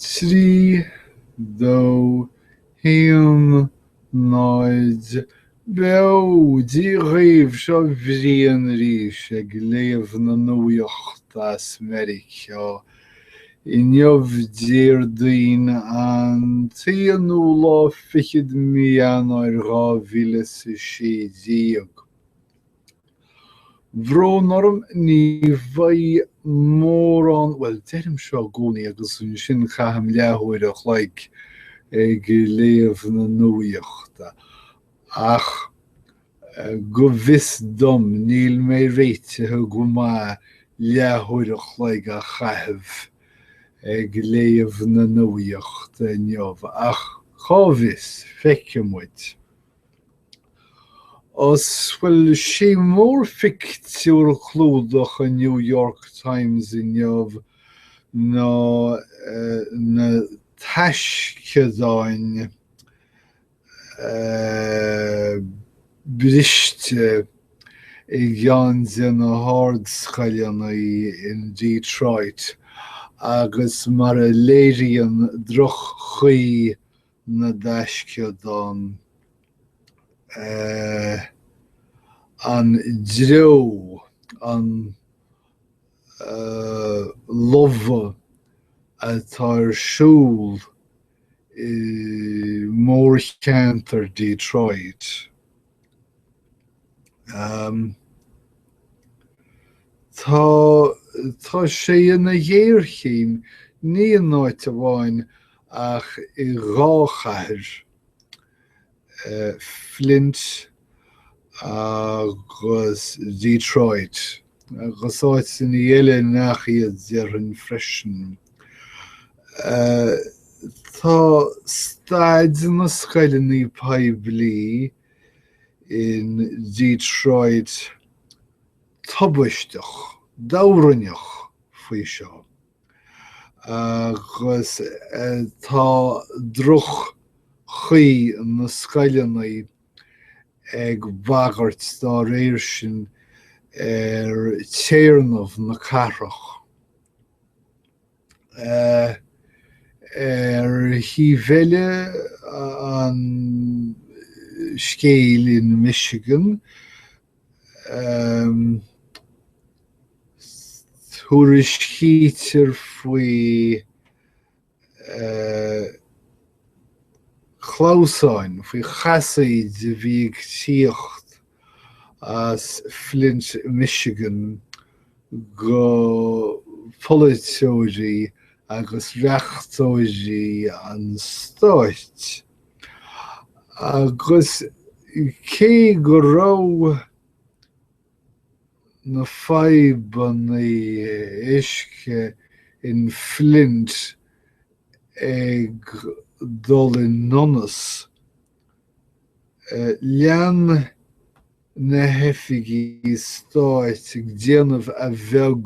3, 2, 1, 0 Beo! Dia dhaoibh, seo Brian arís ag léamh na nuaíochta as Meiriceá. Inniu Déardaoin an t-aonú lá fichead mí Eanáir dhá mhíle is a sé déag. Brón orm, ní bheidh mórán, bhuel, deirim seo i gcónaí agus ansin caithim leathuair a chloig ag léamh na nuaíochta, ach go bhfios dom níl mé réitithe go maith leathuair a chloig a chaitheamh ag léamh na nuaíochta inniu, ach cá bhfios, feicfidh muid. Ó, bhuel, sé mórphictiúr clúdaigh an New York Times inniu ná na taisceadáin briste i gceann de na hardscoileanna in Detroit agus mar a léiríonn droch-chaoi na dtaisceadán eh. an dreo an eh. lobhadh atá ar siúl i mórcheantar Detroit. Tá tá sé ina ghéarchéim, ní in áit amháin ach i dhá chathair, Flint agus Detroit. Agus áiteanna eile nach iad, déarfainn freisin. Tá staid na scoileanna poiblí in Detroit tubaisteach, duibheagánach faoi seo. Agus tá droch-chaoi na scoileanna ag bagairt dá réir sin ar théarnamh na cathrach. Ar thaobh eile an scéil in Michigan, tuairiscítear faoi chlamhsáin, faoi chasaoidí a bhí ag tíocht as Flint, Michigan go polaiteoirí agus reachtóirí an stáit. Agus cé go raibh. na fadhbanna uisce in Flint ag dul i ndonas, lean na hoifigigh stáit ag déanamh a bheag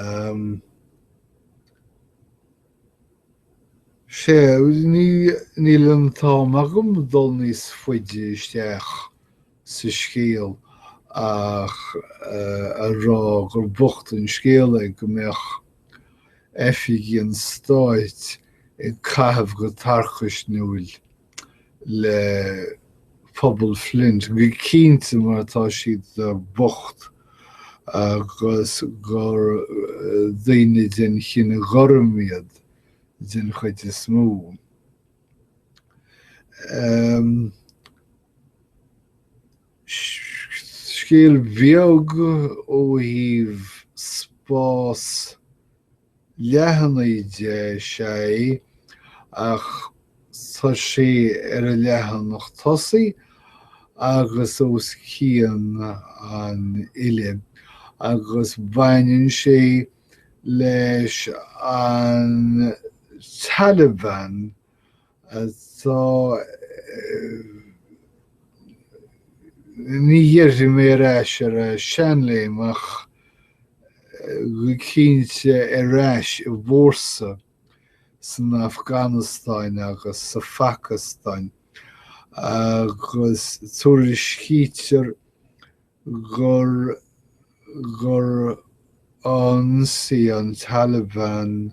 Em, sé, níl an t-am agam dul níos faide isteach sa scéal ach a rá gur bocht an scéal é go mbeadh oifigigh an stáit ag caitheamh go tarcaisniúil le pobal Flint, go cinnte mar atá siad bocht agus gur daoine den chine gorm iad den chuid is mó. Em, scéal beag ó thaobh spás leathanaigh de, sé, ach tá sé ar an leathanach tosaigh agus os cionn an fhillte agus baineann sé leis an Taliban atá ní déarfaidh mé ar ais ar a seanléim ach go cinnte ar ais i bhfórsa san Afganastáin agus sa Phacastáin agus tuairiscítear gur gur ionsaigh an Taliban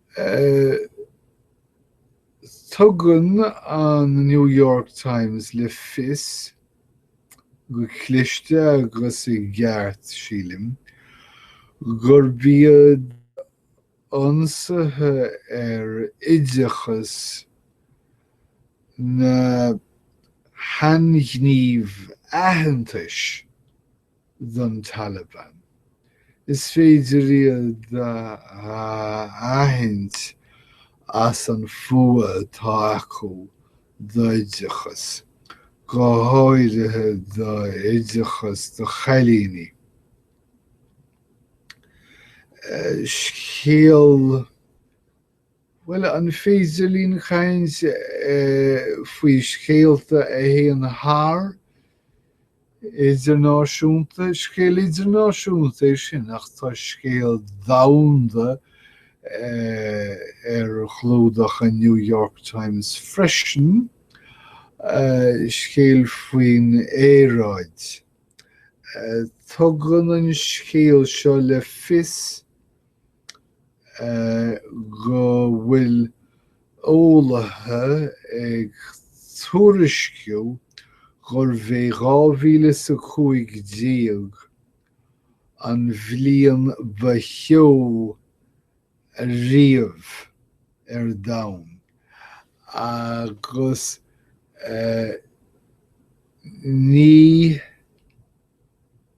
Tugann an New York Times le fios, go cliste agus i gceart, sílim, gurb iad ionsaithe ar oideachas na hainghníomh aitheantais. don Taliban. Is féidir iad a aithint as an fuath atá acu d'oideachas, go háirithe d'oideachas do chailíní. Scéal. Bhuel, an féidir linn caint faoi scéalta a théann thar idirnáisiúnta? Scéal idirnáisiúnta é sin ach tá scéal domhanda ar chlúdach an New York Times freisin, scéal faoin aeráid. Tugann an scéal seo le fios go bhfuil eolaithe ag tuairisciú gurbh é 2015 an bhliain ba theo riamh ar domhan agus ní.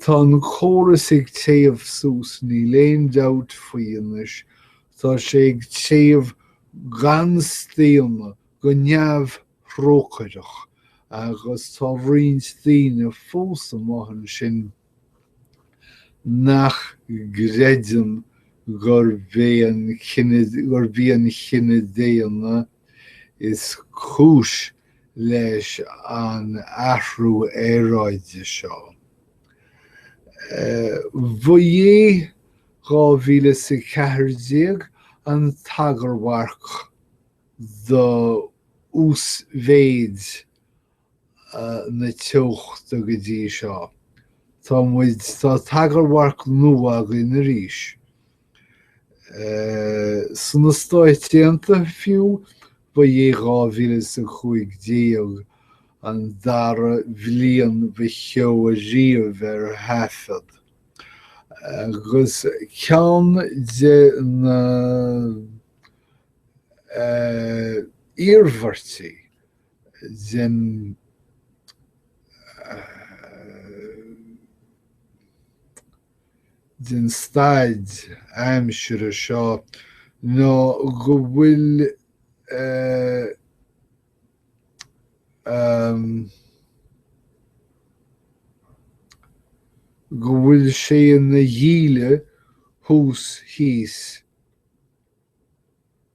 Tá an córas ag téamh suas, níl aon dabht faoi anois, tá sé ag téamh gan staonadh, go neamhthrócaireach, agus tá roinnt daoine fós amuigh ansin nach gcreideann gurb í an chine daonna Is cúis leis an athrú aeráide seo. Bhuaigh 2014 an tagarmharc do uasmhéid na teochta go dtí seo. Tá muid, tá tagarmharc nua againn arís. Sna Stáit Aontaithe fiú, ba é 2015 an dara bhliain ba theo ariamh ar thaifead, agus ceann de na iarmhairtí den den staid aimsire seo ná go bhfuil go bhfuil sé ina dhíle thuas thíos.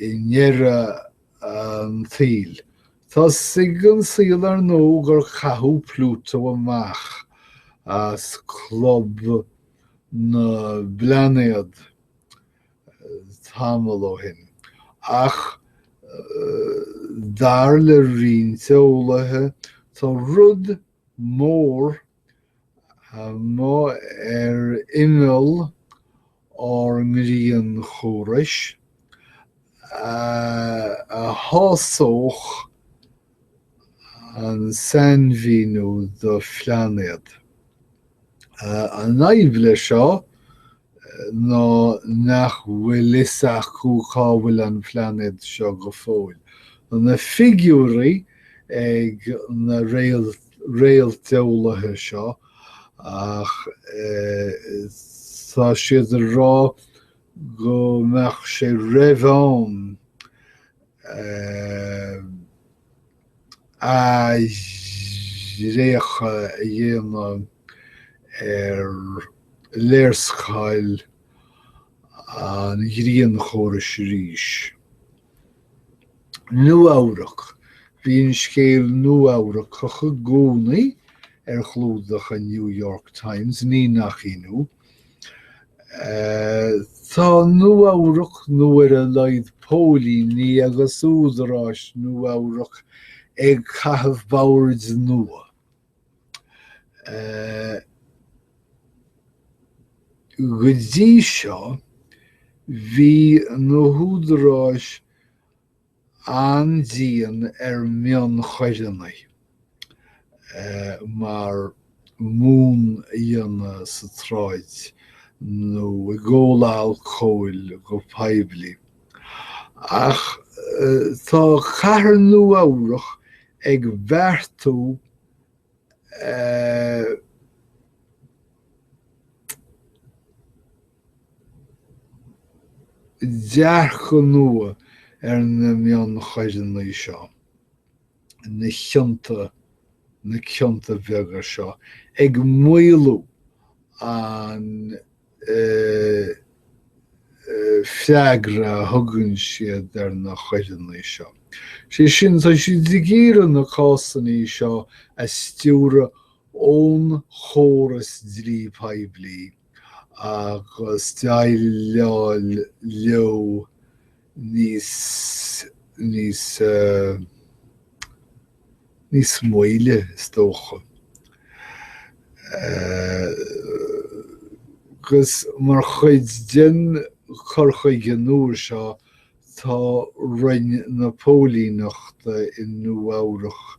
i ndeireadh an tsaoil. Tá 'fhios ag an saol ar ndóigh gur caitheadh Pluto amach as club na bplainéad tamall ó shin, ach dar le roinnt eolaithe tá rud mór amuigh ar imeall ár ngrianchórais, a shásódh an sainmhíniú do phlainéad. An fhadhb leis seo ná nach bhfuil 'fhios acu cá bhfuil an plainéad seo go fóill. Tá na figiúirí ag na réalteolaithe seo ach tá siad ag rá go mbeadh sé roimh am. athraíocha a dhéanamh ar léarscáil an ghrianchórais arís. Nua-Eabhrac, bíonn scéal Nua-Eabhrac acu i gcónaí ar chlúdach an New York Times, ní nach ionadh. Tá Nua-Eabhrac, nó ar a laghad póilíní agus údaráis Nua-Eabhrac, ag caitheamh bord nua. Go dtí seo, bhí na húdaráis an-dian ar mhionchoireanna mar mún a dhéanamh sa tsráid nó ag ól alcóil go poiblí. Ach tá cathair Nua-Eabhrac ag beartú a. Dearcadh nua ar na mionchoireanna seo, na cionta, na cionta beaga seo, ag maolú an freagra a thugann siad ar na choireanna seo. Sé sin, tá siad ag iarraidh na cásanna seo a stiúradh ón chóras dlí poiblí. agus déileáil leo níos, níos, níos moille, is dócha. Agus mar chuid den cur chuige nua seo, tá Roinn na Póilíneachta i Nua-Eabhrac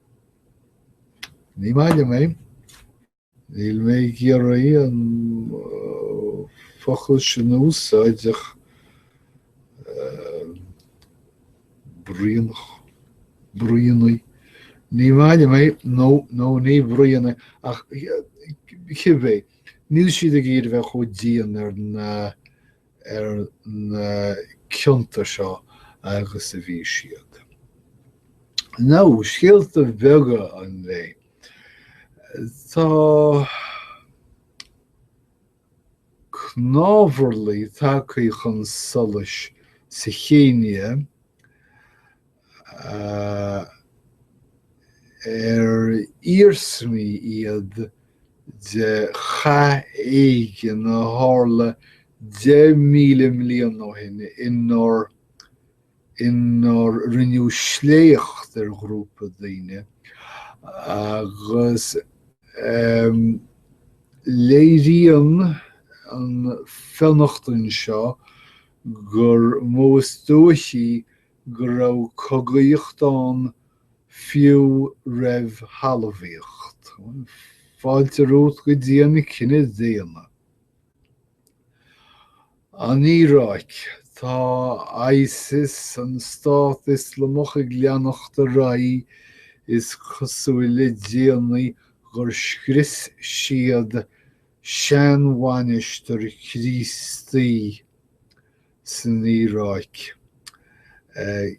Ní maith liom é. Níl mé ag iarraidh an focal sin a úsáid ach bruíonach, bruíonaigh, ní maith liom é, nó, nó na bruíonaigh ach cibé, níl siad ag iarraidh bheith chomh dian ar na ar na cionta seo agus a bhí siad. Now, scéalta beaga an lae. Tá cnámharlaigh tagtha chun solais sa Chéinia ar iarsmaí iad de chath éigin a tharla 10,000 bliain ó shin inar inar rinneadh sléacht ar ghrúpa daoine agus léiríonn an fionnachtain seo gur mó is dóichí go raibh cogaíocht ann fiú roimh thalmhaíocht. Fáilte romhat go dtí an cine daonna. An Iaráic. Tá ISIS, an Stát Ioslamach, ag leanacht ar aghaidh. Is cosúil le déanaí gur scrios siad seanmhainistir Críostaí. san Iaráic,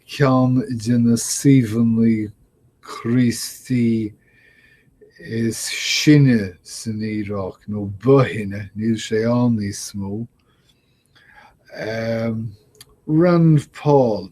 ceann de na suíomhanna Críostaí is sine san Iaráic, nó ba shine, níl sé ann níos mó. Rand Paul.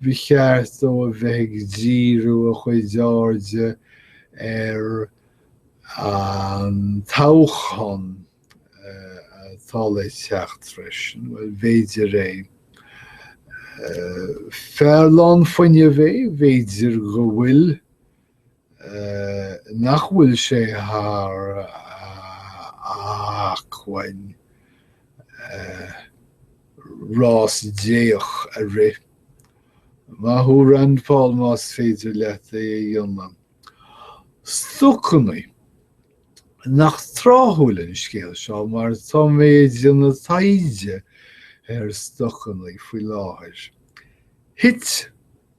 Ba cheart dó a bheith ag díriú a chuid airde ar an toghchán atá le teacht freisin. Bhuel, b'fhéidir é. Fear lán fuinnimh é, b'fhéidir go bhfuil nach bhfuil sé thar a acmhainn rás déach a rith. Maith thú Rand Paul más féidir leat é a dhéanamh. Stocannaí. Nach tráthúil an scéal seo mar tá mé ag déanamh taighde ar stocannaí faoi láthair. Thit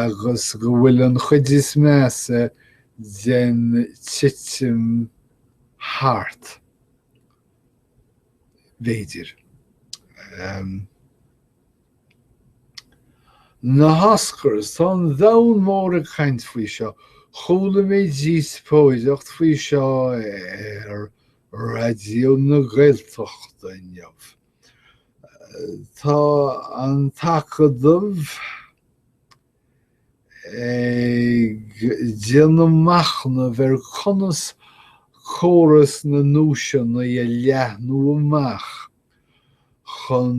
agus go bhfuil an chuid is measa den titim thart, b'fhéidir. Na hOscars, tá an domhan mór ag caint faoi seo. Chuala mé díospóireacht faoi seo ar Raidió na Gaeltachta inniu. Tá an tAcadamh ag déanamh machnaimh ar conas córas na nduaiseanna a leathnú amach chun.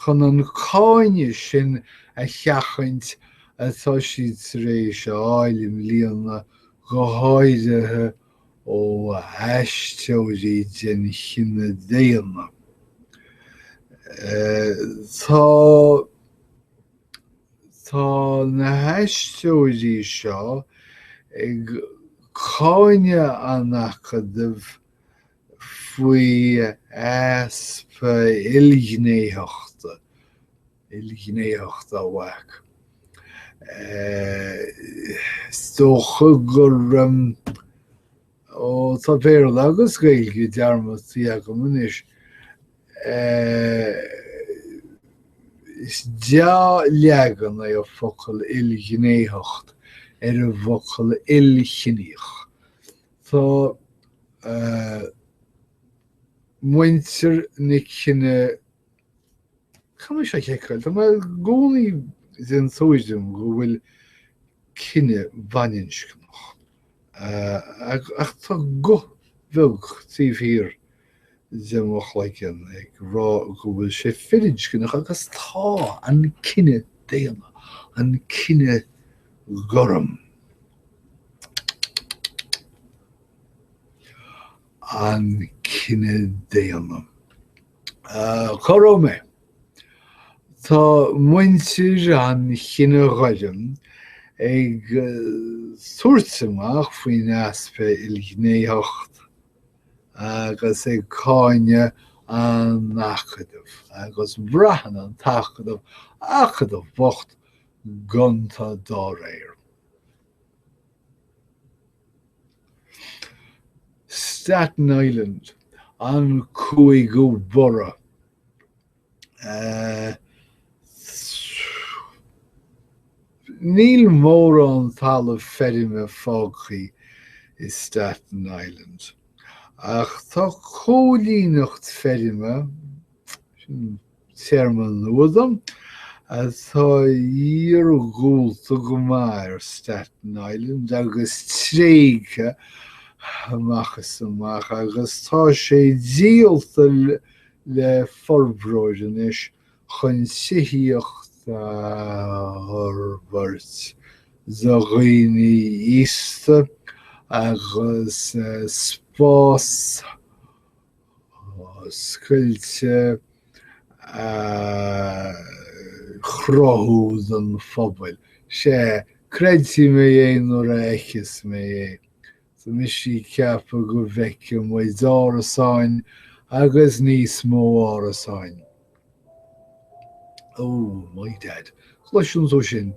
Chun an cáineadh sin a sheachaint atá siad tar éis a fháil i mbliana, go háirithe ó aisteoirí den chine daonna. Tá Tá na haisteoirí seo ag cáineadh an Acadaimh, faoi easpa ilghnéitheachta, ilghnéitheacht a mhac. Is dócha gur, ó tá Béarla agus Gaeilge dearmadta agam anois, is dea-leagan é an focal ilghnéitheacht ar an bhfocal ilchiníoch, Tá muintir na cine, caithfidh mé seo a sheiceáil. Tá mé i gcónaí den tuairim go bhfuil cine baininscneach, ach tá guth bheag taobh thiar de mo chloigeann ag rá go bhfuil sé firinscneach, agus tá, an cine daonna, an cine gorm, an cine daonna. Cá raibh mé? Tá muintir an chine ghoirm ag tabhairt amach faoin easpa ilghnéitheacht agus ag cáineadh an Acadaimh, agus braitheann an tAcadamh, Acadamh bocht gonta dá réir. Staten Island, an cúigiú borough. Níl mórán talamh feirme fágtha i Staten Island, ach tá cóilíneacht feirme, sin téarma nua dom, atá iarghúlta go maith ar Staten Island agus tréigthe amach is amach agus tá sé díolta le forbróir anois chun tithíocht a fhorbairt do dhaoine aosta agus spás oscailte a chruthú don phobal. Sea, creidfidh mé é nuair a fheiceas mé é. Tá mise ag ceapadh go bhfeicfidh muid árasáin agus níos mó árasáin. Ó, my dad, an gcloiseann tú sin?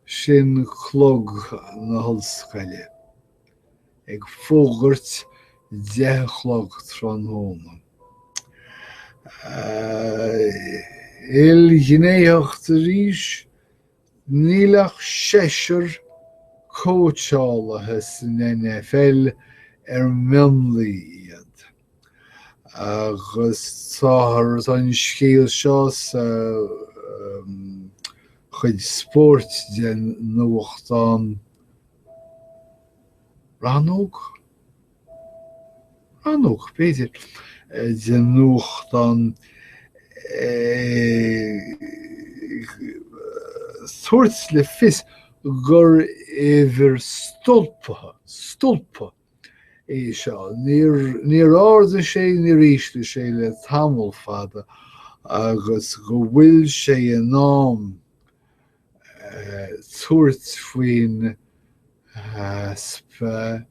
Sin clog na hollscoile. Ag fógairt deich a chlog tráthnóna. Ilghnéitheacht arís? Níl ach seisear cóitseálaí san NFL ar mionlaigh iad, agus táthar an scéal seo sa chuid spóirt de nuachtán Rannóg? Rannóg, b'fhéidir, de nuachtán ag tabhairt le fios gur uimhir stolptha, stolptha, é seo. Níor ardaigh sé, níor ísligh sé le tamall fada agus go bhfuil sé in am tabhairt faoin easpa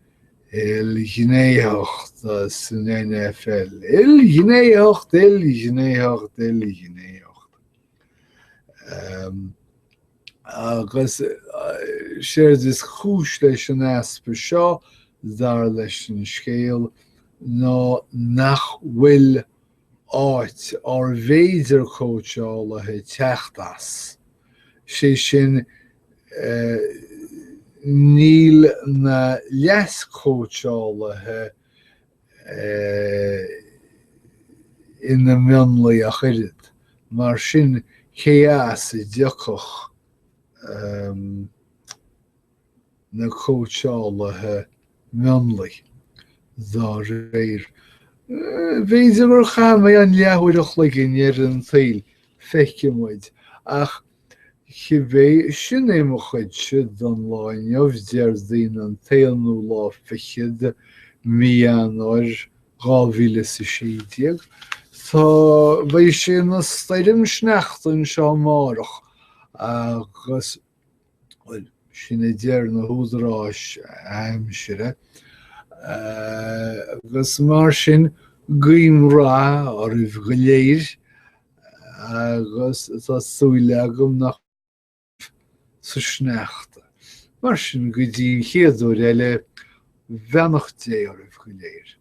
ilghnéitheachta san NFL. Ilghnéitheacht, ilghnéitheacht, ilghnéitheacht. Agus séard is cúis leis an easpa seo, dar leis an scéal, ná nach bhfuil áit ár bhféidir cóitseálaithe teacht as, sé sin níl na leaschóitseálaithe ina mionlaigh ach oiread, mar sin cé as a dtiocfadh na cóitseálaithe mionlaigh, dá réir. B'fhéidir gur chaith mé an leathuair an chloig i ndeireadh an tsaoil, feicfidh muid, ach cibé, sin é mo chuidse don lá inniu, Déardaoin an t-aonú lá fichead de mhí Eanáir, dhá mhíle is a sé déag. Tá, beidh sé ina stoirm sneachta anseo amárach agus. Bhuel, sin a deir na húdaráis aimsire, agus mar sin, guím rath oraibh go léir, agus tá súil agam nach sa sneachta. Mar sin, go dtí an chéad uair eile, beannacht Dé oraibh go léir.